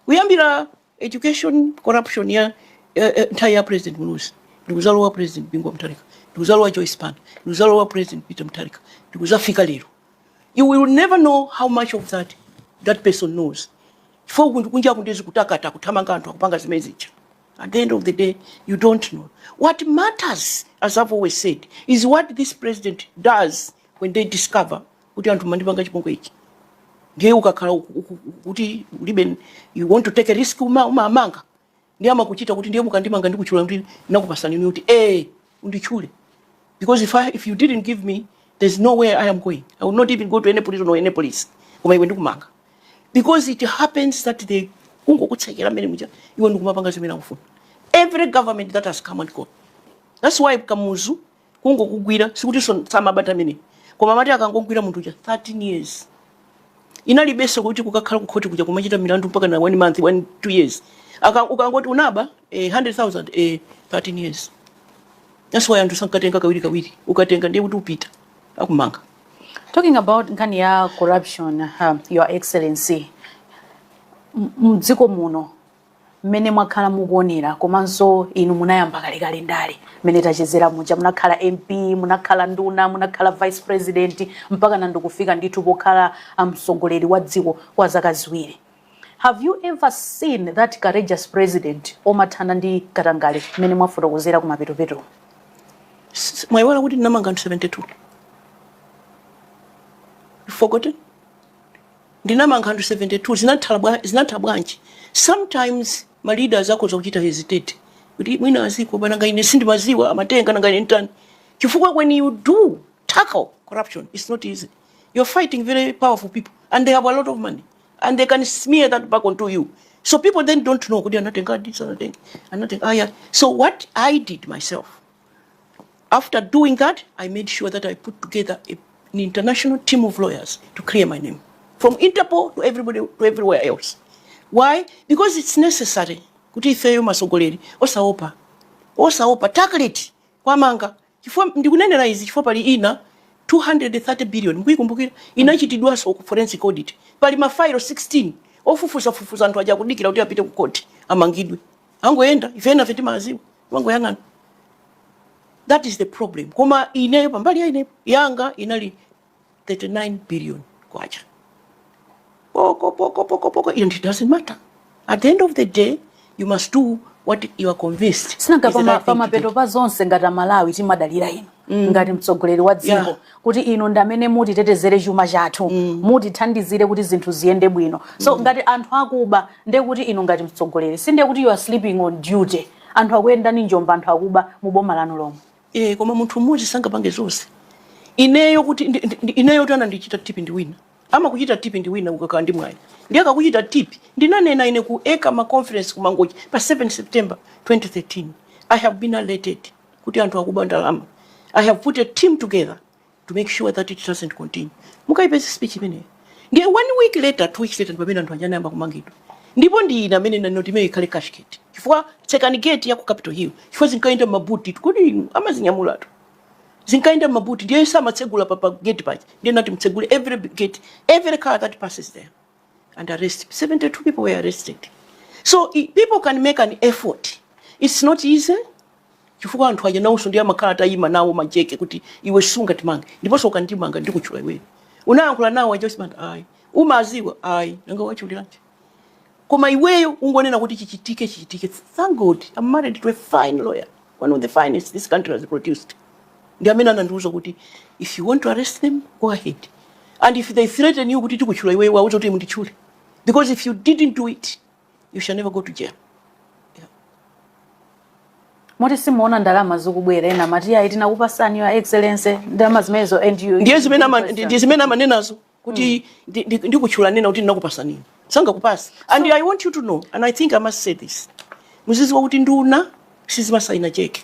kuyambira education corruption ya eh, eh, nthawi ya president Muluzi ndikudzalowa president Bingu wa Mutharika ndikudzalowa Joyce Banda ndikudzalowa president Peter Mutharika ndikudzafika lero you will never know how much of that that person knows chifukwa kunja kuno ndi zi kutakata kuthamanga anthu akupanga zimene zija At the end of the day, you don't know. What matters, as I've always said, is what this president does when they discover kuti anthu andipanga chipongwe ichi ndiye ukakhala uku- uku- uku- kuti ulibe you want to take a risk uma- umamanga ndiye amakuchita kuti ndiye mukandimanga ndikutchula kuti ndinakupatsani kuti eh unditchule because if, I, if you didn't give me there's no way I am going I will not even go to any prison or any police koma iwe ndikumanga because it happens that they kungokutsekera mmene muja iwe ndikumapanga zimene akufuna every government that has come and gone that's why kamuzu kungokugwira sikuti samaba nthawi imene koma amati akangogwira munthu uja 13 years kunalibenso kuti kukakhala kukhoti kuja kumachita milandu mpaka na one month one two years Aka- ukangoti unaba eh, 100000 eh, 13 years that's why anthu sankatenga kawiri kawiri ukatenga ndiye kuti upita akumanga Talking about nkhani ya corruption, uh, Your Excellency, m- mdziko muno mmene mwakhala mukuonera komanso inu munayamba kalekale ndale mmene tachezera muja munakhala mp munakhala nduna munakhala vice president mpaka na ndikufika ndithu pokhala mtsogoleri wa dziko kwa zaka ziwiri have you ever seen that courageous president omathana ndi katangale mmene mwafotokozera kumapetopeto S- mwayiwala kuti ndinamanga anthu 72 you forgotten ndinamanga anthu 72 zinatha bwa zinatha bwanji sometimes ma leaders akhoza kuchita hesitate kuti mwina aziopa nanga ine sindimadziwa amatenga nanga ine ntani chifukwa when you do tackle corruption it's not easy you're fighting very powerful people and they have a lot of money and they can smear that back onto you so people then don't know kuti anatengadi sanatenga anatenga aya so what i did myself After doing that, I made sure that I put together a, an international team of lawyers to clear my name from Interpol to everybody to everywhere else. Why? Because it's necessary. Kuti ifeyo atsogoleri osaopa osaopa tackle it kwamanga chifukwa ndikunenera izi chifukwa pali ina 230 billion mukuikumbukira inachitidwanso forensic audit pali mafailo 16 ofufuza anthu aja akudikira kuti apite ku koti amangidwe akungoyenda ife enafe timawaziwa angoyang'ana that is the problem koma ineyo pambali ya ineyo yanga inali 39 billion kwacha poko poko poko poko and it doesn't matter at the end of the day you must do what you are convinced sinanga is the right thing to do. pamapeto pa zonse ngati amalawi timadalira inu ngati mtsogoleri wa dziko Yeah. kuti inu ndi amene mutitetezere chuma chathu mm. mutithandizire kuti zinthu ziyende bwino so mm. ngati anthu akuba ndiye kuti inu ngati mtsogoleri si ndiye kuti you are sleeping on duty anthu akuyendani njomba anthu akuba mu boma lanu lomwe e, koma munthu mmodzi sangapange zonse ineyo kuti ineyo anandichita tipi ndi wina amakuchita tip ndi wina ukakhala ndi mwayi ndiye akakuchita tip ndinanena ine ku ECAMA conference ku mangochi pa 7 september 2013 i have been alerted kuti anthu akuba ndalama i have put a team together to make sure that it doesn't continue mukayipeza speech imeneyo ndiye one week later two weeks later ndipamene anthu aja anayamba kumangidwa ndipo ndi ena amene anati imene ikhale cashgate chifukwa tsekani gate ya ku capital hill chifukwa zinkayenda m'mabuti kodi inu amazinyamulatu zinkayenda m'mabuti ndiye samatsegula pa pa gate paja ndiye ndinati mutsegule every gate every car that passes there and arrest. 72 people were arrested. So people can make an effort. It's not easy. chifukwa anthu aja nawonso ndi amakhala atayima nawo majeke kuti iwe sungatimange ndiponso ukandimanga ndikutchula iweyo unayankhula nawo aja umati ayi umaziwa ayi nanga wachiuliranji koma iweyo ungonena kuti chichitike chichitike thank god i'm married to a fine lawyer one of the finest this country has produced ndi amene anandiuza kuti if you want to arrest them go ahead and if they threaten you kuti tikutchula iwe uwauze kuti munditchule because if you didn't do it you shall never go to jail moti simuwona ndalama zikubwera ena amati ayi tinakupasani your excellency ndalama zimenezo and you ndiye zimene ama- ndi- ndi zimene amanenazo kuti ndi- ndi- ndikutchula nena kuti ndinakupasani sangakupasa and i want you to know and i think i must say this muziziwa kuti nduna sizimasayina cheke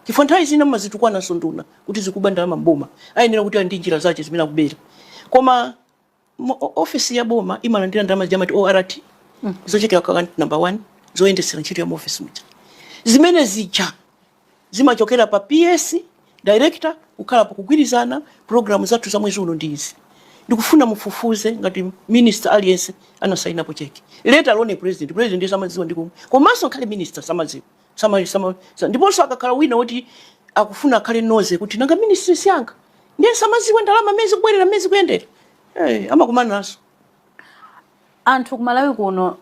chifukwa nthawi zina mmazitukwananso nduna kuti zikuba ndalama mboma ayenera kuti ali ndi njira zake zimene akubera koma mo- o- ofesi ya boma imalandira ndalama zija amati ort zochokera ku account number one zoyendetsera ntchito ya mu ofesi muja zimene zija zimachokera pa PS, Director, kukhala pa kugwirizana, program zathu za mwezi uno ndi izi. Ndikufuna mufufuze ngati minister aliyense anasainapo cheki. Let alone president, president ndiye samadziwa ndi komwe. Komanso ngakhale minister samadziwa. Sama, sama, sa- ndiponso akakhala wina woti akufuna akhale nosy kuti nanga ministry si yanga. Ndiye samadziwa ndalama m'mene zikubwerera m'mene zikuyendera. Eh, amakumana nazo. Anthu ku Malawi kuno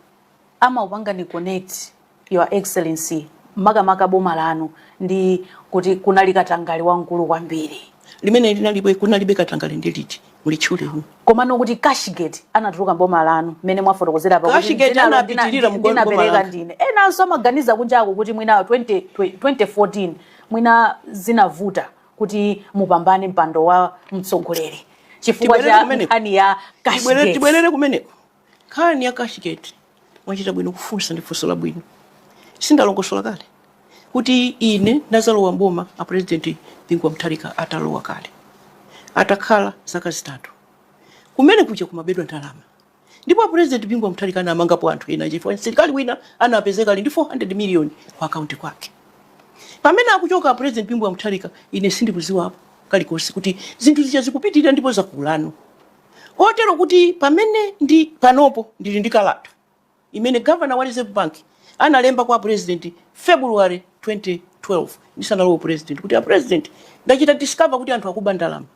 amakupangani connect your excellency makamaka boma lanu ndi kuti kunali katangale wamkulu kwambiri. Limene linalipo kunalibe katangale ndi liti? Mulitchule hu. Komano kuti cashgate anatuluka m'boma lanu mmene mwafotokozera apa kuti Cashgate anapitirira mu boma langa. Ndinalo ndina ndi- ndinapereka ndine. Enanso amaganiza kunjaku kuti mwina 20 2014 mwina zinavuta kuti mupambane mpando wa mtsogoleri chifukwa cha nkhani ya cashgate Tibwerere kumeneko. Tibwerere- tibwerere kumeneko nkhani ya cashgate mwachita bwino kufunsa ndi funso labwino sindalongosola kale kuti ine ndazalowa mboma a president bingu wa mutharika atalowa kale atakhala zaka zitatu kumene kuja kumabedwa ndalama Ndipo a president Bingu wa Mutharika anamangapo anthu ena aja chifukwa msilikali wina anapezeka ali ndi 400 million ku account kwake. Pamene akuchoka a president Bingu wa Mutharika ine sindikuziwapo kalikonse kuti zinthu zija zikupitilira ndipo zakulano. Kotero kuti pamene ndi panopo ndili ndi kalata imene governor wa Reserve Bank analemba kwa president February 2012 ndisanalowe upresident kuti a president ndachita discover kuti anthu akuba ndalama.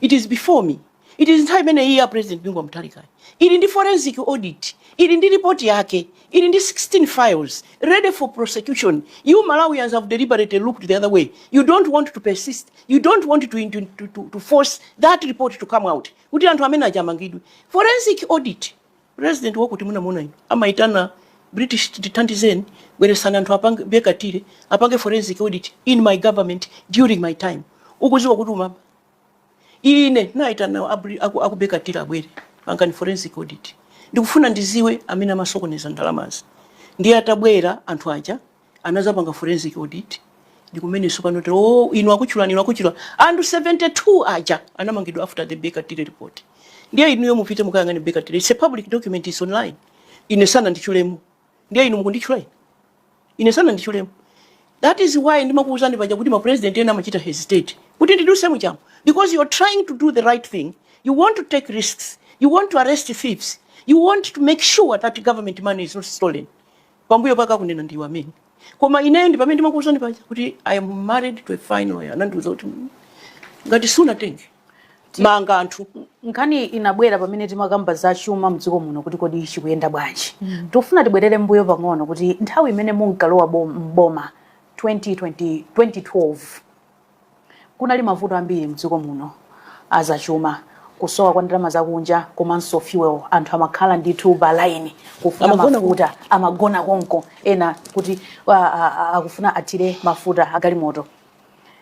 it is before me it is nthawi imeneyi ya president bingu wa mutharikayi ili ndi forensic audit ili ndi report yake ili ndi 16 files ready for prosecution you malawians have deliberately looked the other way you don't want to persist you don't want to, to, to, to, to force that report to come out kuti anthu amene aja amangidwe forensic audit President wakuti munamuona inu? Amaitana British kuti tithandizeni bweresani anthu apange Baker Tilly, apange forensic audit in my government during my time. Ukuziwa kuti umaba? Ine ndinaitana a Bri aku, aku Baker Tilly abwere pangani forensic audit. Ndikufuna ndiziwe amene amasokoneza ndalamazi. Ndiye atabwera anthu aja anazapanga forensic audit ndikumene tsopano tero oh, inu akutchulani inu akutchula anthu 72 aja anamangidwa after the Baker Tilly report ndiye inuyo mupite mukayang'ane Baker Tilly it's a public document is online ine sananditchulemo ndiye inu mukunditchula ine ine sananditchulemo that is why ndimakuuzani paja kuti ma president ena amachita hesitate kuti ndidutse mujamo because you are trying to do the right thing you want to take risks you want to arrest thieves you want to make sure that government money is not stolen pambuyo pake pakakunena ndi iwo amene koma ineyo ndi pamene ndimakuuzani paja kuti i am married to a fine lawyer anandiuza kuti "Mm, ngati sunatenge manga anthu nkhani inabwera pamene timakamba za chuma mdziko muno kuti kodi chikuyenda bwanji tikufuna tibwerere mbuyo pang'ono kuti nthawi imene munkalowa bom- m'boma 2020 2012 Kunali mavuto ambiri mdziko muno azachuma, kusowa kwa ndalama zakunja komanso fuel. Anthu amakhala ndithu pa line kufuna mafuta, amagona konko ena kuti a- a- a- akufuna athire mafuta agalimoto.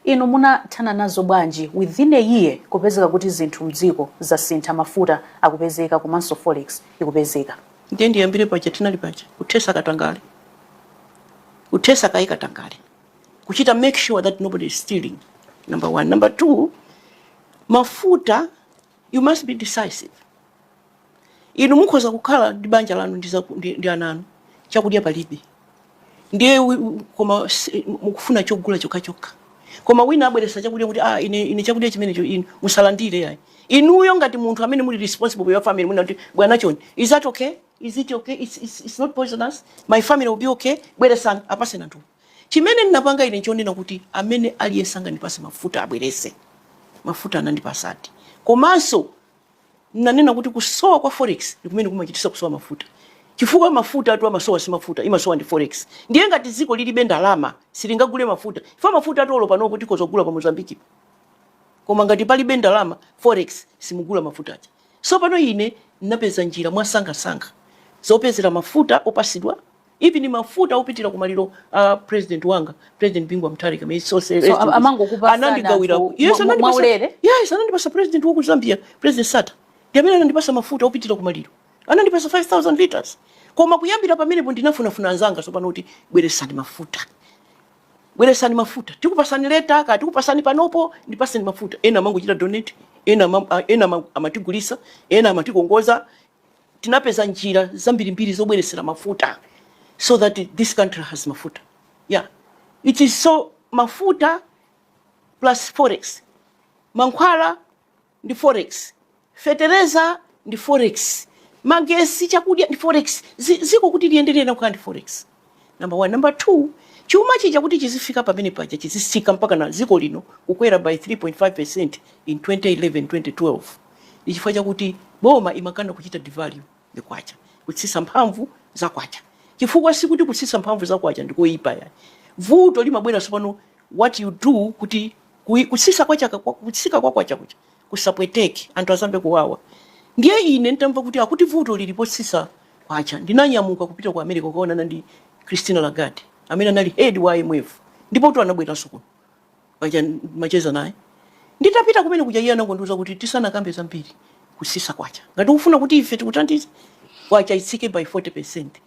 Inu munathana nazo bwanji within a year kupezeka kuti zinthu mdziko zasintha, mafuta akupezeka komanso forex ikupezeka? ndiye ndiyambire paja tinali paja kuthesa katangale kuthesa kaye katangale kuchita make sure that nobody is stealing number one number two mafuta you must be decisive inu mukhoza kukhala ndi banja lanu ndi, zaku- ndi, ndi ana anu chakudya palibe ndiye wi- wi- koma si- mukufuna chakudya chokhachokha koma wina abweresa chakudya kuti ah, ine, ine chakudya chimenecho inu musalandire yayi inuyo ngati munthu amene muli responsible for your family munena kuti bwana choni is that okay is it okay it's, it's, it's not poisonous my family will be okay bweresani apaseni anthu Chimene ndinapanga ine nchonena kuti amene aliyense angandipase mafuta abwerese mafuta anandipasadi komanso ndinanena kuti kusowa kwa forex ndikumene kumachitisa kusowa mafuta chifukwa mafutatu amasowa si mafuta imasowa ndi forex ndiye ngati dziko lilibe ndalama silingagule mafuta chifukwa mafutatu olo panopo tikhoza kugula pa Mozambique-po koma ngati palibe ndalama forex simungagule mafuta aja sopano ine ndinapeza njira mwansangansanga zopezera mafuta opasidwa even mafuta opitira kumaliro a president wanga president Bingu wa Mutharika may his soul rest so amangokupasani mwaulere yes anandipasa yes anandipasa president wa ku Zambia president Sata ndiamene anandipasa mafuta opitira kumaliro anandipasa 5000 liters koma kuyambira pamenepo ndinafunafuna anzanga sopano kuti bweresani mafuta bweresani mafuta tikupasani later tikupasani panopo ndipaseni mafuta ena amangochita donate ena ena amatigulisa ena amatikongoza tinapeza njira zambirimbiri zobweretsera mafuta so that this country has mafuta yeah it is so mafuta plus forex mankhwala ndi forex fetereza ndi forex magesi chakudya ndi forex Zi- ziko kuti liyendere na kukhala ndi forex number 1 number 2 chuma chija kuti chizifika pamene paja chizisika mpaka na ziko lino kukwera by 3.5% in 2011 2012 ndi chifukwa chakuti boma imakana kuchita devalue the kwacha kutsisa mphamvu za kwacha chifukwa sikuti kutsisa mphamvu za kwacha ndikoyipa yayi vuto limabwera sopano what you do kuti kutsisa kwacha kutsika kwa kwacha kuja kusapweteke, anthu asamve kuwawa. Ndiye ine n'tamva kuti akuti vuto lili potsitsa kwacha, ndinanyamuka kupita ku America kukaonana ndi Christine Lagarde, amene anali hedi wa IMF. Ndipotu anabweranso kuno. Paja ndimacheza naye. Nditapita kumene kuja iye anangondiuza kuti, Tisanakambe zambiri, kutsitse kwacha. Ngati ukufuna kuti ife tikuthandize, kwacha itsike by 40%.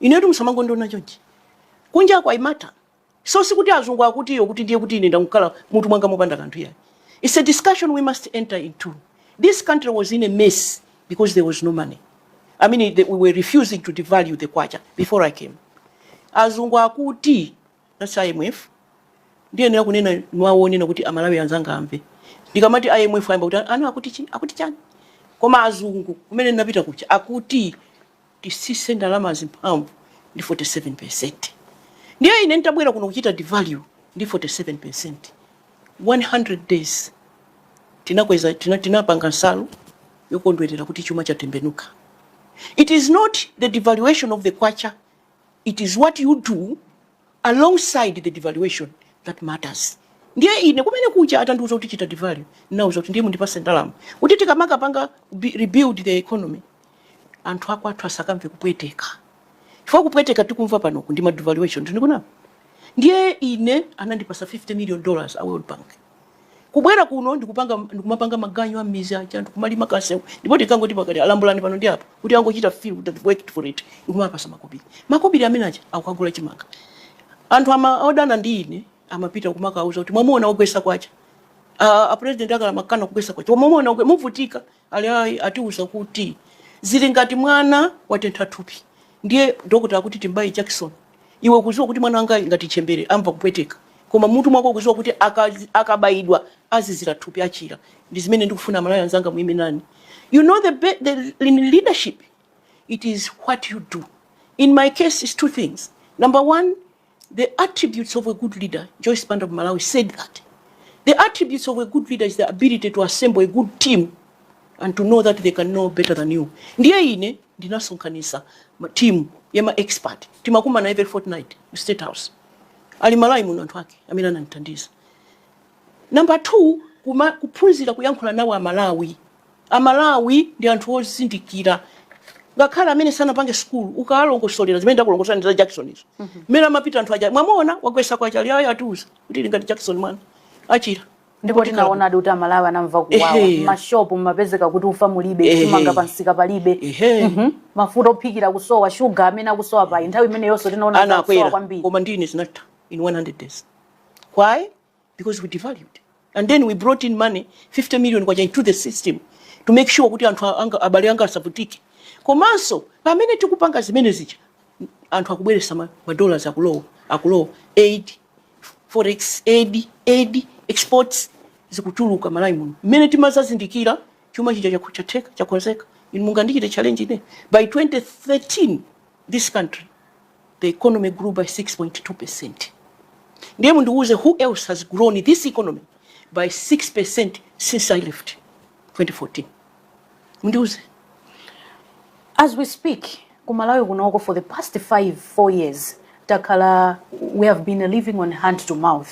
Inetu musamangondiona chonchi. Kunjaku I matter. So sikuti azungu akuti iyo kuti ndiye kuti ine ndangokhala mutu mwanga mopanda kanthu iyayi. It's a discussion we must enter into. This country was in a mess because there was no money. I mean the, we were refusing to devalue the kwacha before I came. Azungu akuti that's IMF ndiyenera kunena mwawonenawo kuti amalawi anzanga amve ndikamati imf ayamba kuti anu akuti chi- akuti chani koma azungu kumene ndinapita kuja akuti titsitse ndalamazi mphamvu ndi 47%. Ndiye ine n'tabwera kuno kuchita devalue ndi 47%, 100 days tinakweza, tina, tinapanga nsalu yokondwerera kuti chuma chatembenuka. It is not the devaluation of the kwacha, it is what you do alongside the devaluation that matters ndiye ine kumene kuja atandiuza kuti chita devalue n'nawauza kuti ndiye mundipase ndalama kuti tikamakapanga bi- rebuild the economy anthu akwathu asakamve kupweteka chifukwa kupweteka tikumva panoku ndi ma devaluation timapanga apa ndiye ine anandipasa 50 million dollars a world bank kubwera kuno ndikupanga ndikumapanga maganyu a mmizi aja anthu kumalima kamsewu ndipo tikangoti pakati alambulani pano ndi apo kuti angochita feel they've worked for it ndikumapasa makobiri makobiri amene aja akakagula chimanga anthu ama odana ndi ine amapita kumakauza kuti mwamuona ogwesa kwacha uh, a president akale amakana kugwesa kwacha mwamuona ogwe- muvutika Ali ayi atiuza kuti zili ngati mwana watentha thupi ndiye doctor akuti tim'baye jakisoni iwe ukuziwa kuti mwana wangayu ngati ntchembere amva kupweteka koma m'mutu mwako ukuziwa kuti akabayidwa azizila thupi achila ndizimene ndikufuna amalawi anzanga muime nane you know the, the in leadership it is what you do in my case is two things number one The attributes of a good leader, Joyce Banda of Malawi said that the attributes of a good leader is the ability to assemble a good team and to know that they can know better than you. Ndiye ine ndinasonkhanisa team ya ma expert timakumana every fortnight ku State House. Ali Malawi muno anthu ake amene anandithandiza. Number two, kuma, kuphunzira kuyankhula nawo a Malawi A Malawi ndi anthu ozindikira ngakhale amene sanapange sukulu, ukawalongosolera zimene ndakulongosolerani za jakisoni izo mmene amapitira anthu aja mwamuona wagwetsa kwacha ali ayi atiuza kuti ili ngati jakisoni mwana achira ndipo Tikhala bwino. tinaonadi kuti amalawi anamva kuwawa Ehe. mashopu mumapezeka kuti ufa mulibe Ehe. chimanga pamsika palibe Ehe. Mhm. mafuta ophikira kusowa shuga amene akusowa pa nthawi imeneyonso tinaona kuti akusowa anakwera kwambiri koma nd'ine zinatha in 100 days why because we devalued and then we brought in money 50 million kwacha into the system to make sure kuti anthu anga, abale anga asavutike komanso pamene tikupanga zimene zija anthu akubweresa ma dollars akulowa aid forex aid exports zikutuluka malawi muno mmene timazazindikira chuma chija chakonzeka mungandichite challenge ine by 2013 this country the economy grew by 6.2 percent ndiye mundiuze who else has grown this economy by 6 percent since i left 2014 mundiuze as we speak ku malawi kunoko for the past 5 4 years takhala we have been living on hand to mouth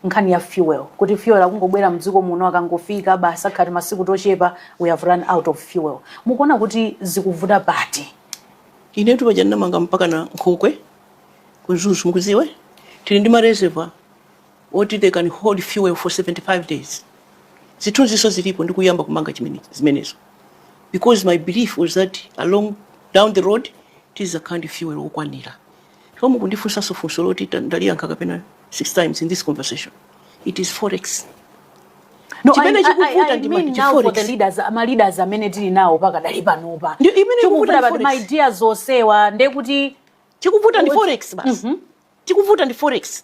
nkhani ya fuel kuti fuel akungobwera mdziko muno akangofika basi akhati masiku tochepa we have run out of fuel mukuona kuti zikuvuta pati Inetu paja ndinamanga mpakana nkhokwe ku Mzuzu, mukudziwa eh? Tili ndi ma reservoir oti they can hold fuel for 75 days. Zithunzinso zilipo ndikuyamba kumanga zimenezo because my belief was that along down the road tizakhala ndi fuel wokwanira. koma mukundifunsanso funso loti ndaliyankha kapena six times in this conversation it is forex No, I mean now for the leaders, ma leaders amene tili nawo pakadali panopa. Chikuvuta pati my dear zosewa ndekuti chikuvuta ndi forex basi chikuvuta ndi forex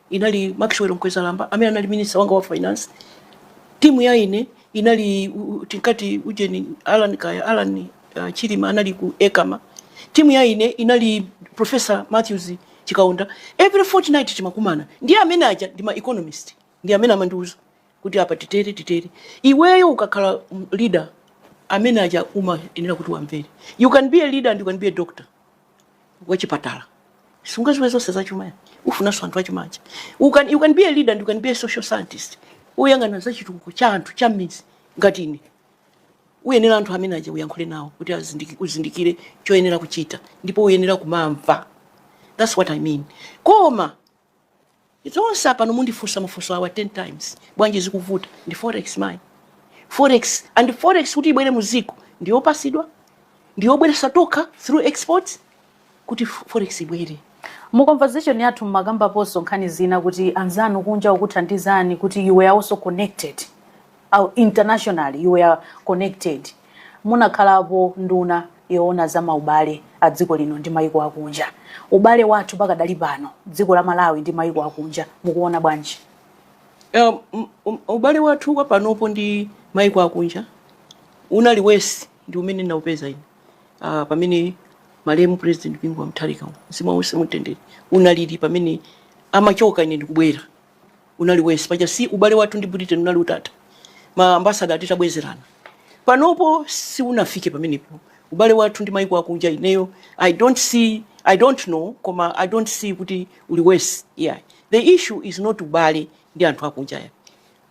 Inali Maxwell Mkwezalamba amene anali minister wanga wa finance. Timu ya ine inali tinkati ujeni Alan Chilima anali ku ECAMA. Timu ya ine inali Professor Matthews Chikaonda. Every fortnight timakumana. Ndiye amene aja ndi ma economist. Ndiye amene amandiuza kuti apa titere titere. Iweyo ukakhala leader amene aja umayenera kuti wamvere. You can be a leader and you can be a doctor. wachipatala sungaziwe zonse zachuma ayi ufunanso anthu achuma aja you can be a leader and you can be a social scientist uyang'ana za chitukuko cha anthu cha mmidzi ngati ine uyenera anthu amene aja uyankhule nawo kuti uzindikire choyenera kuchita ndipo uyenera kumamva that's what i mean koma Zonse apano mundifunsa mafunso awa 10 times bwanji zikuvuta ndi forex mayi forex and forex kuti ibwere mu dziko ndiyopasidwa ndiyobweresa tokha through exports kuti forex ibwere Mu conversation yathu mumakambaponso nkhani zina kuti anzanu kunja okuthandizani kuti you were also connected. internationally you were connected munakhalapo nduna yoona za maubale a dziko lino ndi maiko akunja ubale wathu pakadali pano dziko la malawi ndi maiko akunja mukuona bwanji Um, ubale wathu kwa panopo ndi maiko akunja unali worse ndi umene ndinaupeza ine uh, pamene malemu president bingu wa mutharika mzimu uwuse mumtendere unalili pamene amachoka ine ndikubwera unali worse paja si ubale wathu ndi britain unali utatha ma ambasada atitabwezerana panopo siunafike pamenepo ubale wathu ndi maiko akunja ineyo i don't see i don't know koma i don't see kuti uli worse yeah. the issue is not ubale ndi anthu akunja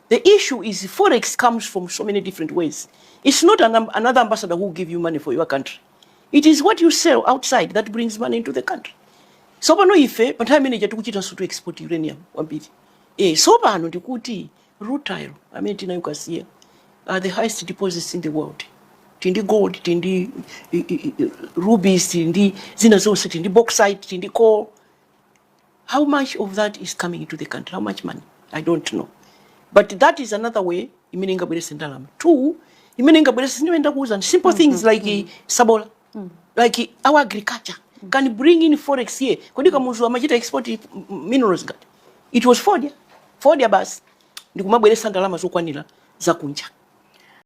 The issue is forex comes from so many different ways. It's not an, another ambassador who will give you money for your country. it is what you sell outside that brings money into the country so pano ife pa nthawi imene ija tikuchitanso to export uranium kwambiri eh, so pano ndikuti rutile amene tinayo ku Kasiya are the highest deposits in the world tindi gold tindi i- i- i- rubies tindi zina zonse tindi bauxite tindi coal How much of that is coming into the country? How much money? I don't know. But that is another way imene ingabwerese ndalama. Two, imene ingabwerese zimene ndakuwuzani simple mm -hmm. things like mm -hmm. sabola. Mm -hmm. Like our agriculture mm -hmm. can bring in forex here. Kodi mm -hmm. kamuzu amachita export minerals ngati. It was fodya. Fodya basi. Ndikumabweresa ndalama zokwanira za kunja.